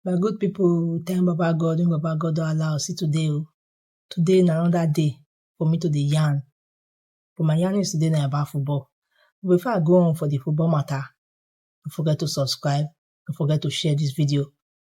My good people, thank Baba God, when Baba God don allow us see today. oh. Today na another day for me to dey yarn. But my yarn is today na about football. But before I go on for the football matter, don't forget to subscribe, don't forget to share this video.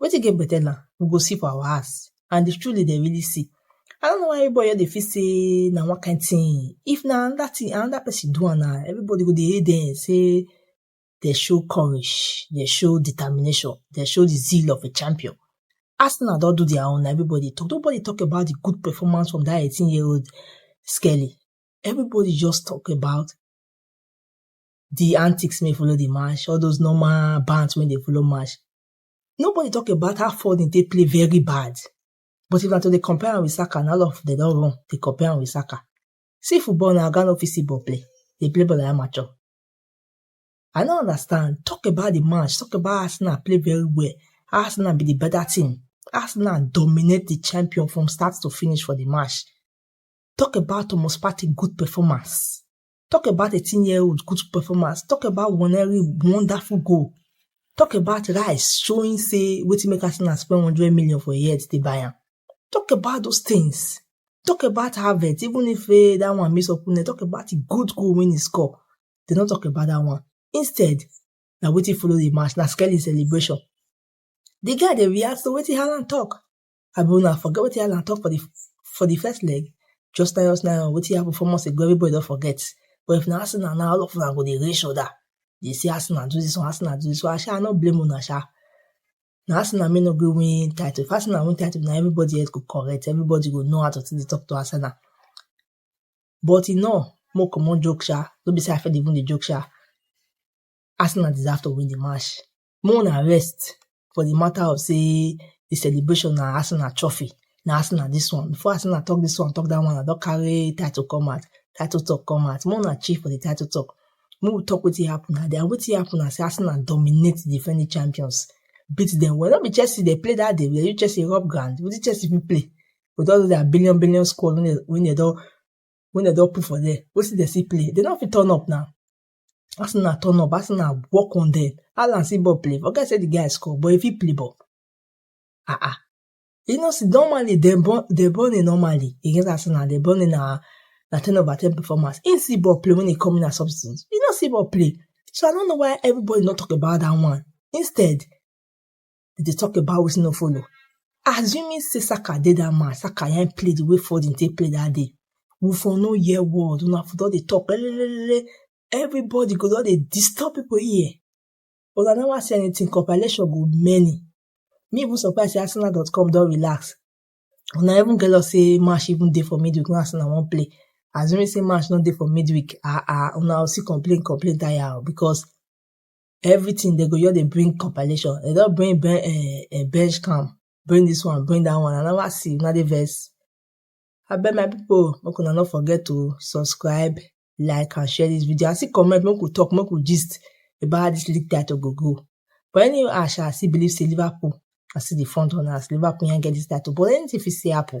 Wetin get better now? We go see for our house. And if truly they really see, I don't know why everybody they feel say na one kind thing. If na another thing, another person do am na everybody go dey hate them say they show courage, they show determination, they show the zeal of a champion. Arsenal don do their own, na everybody talk. Nobody talk about the good performance from that 18 year old Skelly. Everybody just talk about the antics may follow the match, all those normal bands when they follow match. Nobody talk about how Foden take play very bad. But if na to dey compare am with Saka, na all of dem don run dey compare am with Saka. See football na oga no fit see ball play. Dey play ball like amateur. I no understand. Talk about the match. Talk about Arsenal play very well. Arsenal be the better team. Arsenal dominate the champion from start to finish for the match. Talk about Thomas Partey good performance. Talk about 18 year old good performance. Talk about Waneri wonderful goal. Talk about Rice showing say wetin make Arsenal spend 100 million for a year to take buy am. Talk about those things. Talk about Havertz, even if eh, that one miss up, eh, talk about the good goal when he score. They don't talk about that one. Instead, na wetin follow the match, na Skelly celebration. The guy dey react to wetin Haaland talk. abi una forget wetin Alan talk for the for the first leg just tell us now wetin happen four months ago everybody don forget but if na Arsenal now all of una go dey raise shoulder dey say Arsenal do this one Arsenal do this one sha I no blame una sha na Arsenal may no go win title if Arsenal win title na everybody else go correct everybody go know how to take dey talk to Arsenal but e no mo comot joke sha no be say I fit even dey joke sha Arsenal deserve to win the match make una rest for di matter of sey di celebration na Arsenal trophy, na Arsenal dis one, before Arsenal talk dis one, talk dat one, I don carry title come out, title talk come out, make una chill for di title talk, make we talk wetin happen na, and wetin happen na sey Arsenal dominate di defending champions, beat dem well, no be Chelsea dem play dat day, dem use Chelsea rub ground, wetin Chelsea fit play with all doz their billion billion squad wey dem don put for there, wetin dem still play, dem no fit turn up na. as una turn up as una work on them alan see ball play forget say the guy score but he fit play ball ah ah you know see normally dem born dem born in normally against arsenal dem born in na na ten over ten performance he see ball play when he come in as substitute he no see ball play so i no know why everybody no talk about that one instead dem dey talk about wetin no follow assuming say saka dey that match saka yan play the way foden take play that day we for no hear word una for don dey talk lelelelele everybody go don dey disturb people ear but una never see anything compilation go many me even surprise say arsenal.com don relax una even get us say match even dey for midweek wey arsenal wan play assuming say match no dey for midweek ah ah una go still complain complain tire o because everything they go just dey bring compilation they don bring ben eh, eh, bench camp bring this one bring that one i never see una dey vex abeg my people make una no forget to subscribe like and share this video and still comment make we talk make we gist about how this league title go go but anyway i shall still believe say liverpool na still the front runners liverpool yan get this title but anything fit still happen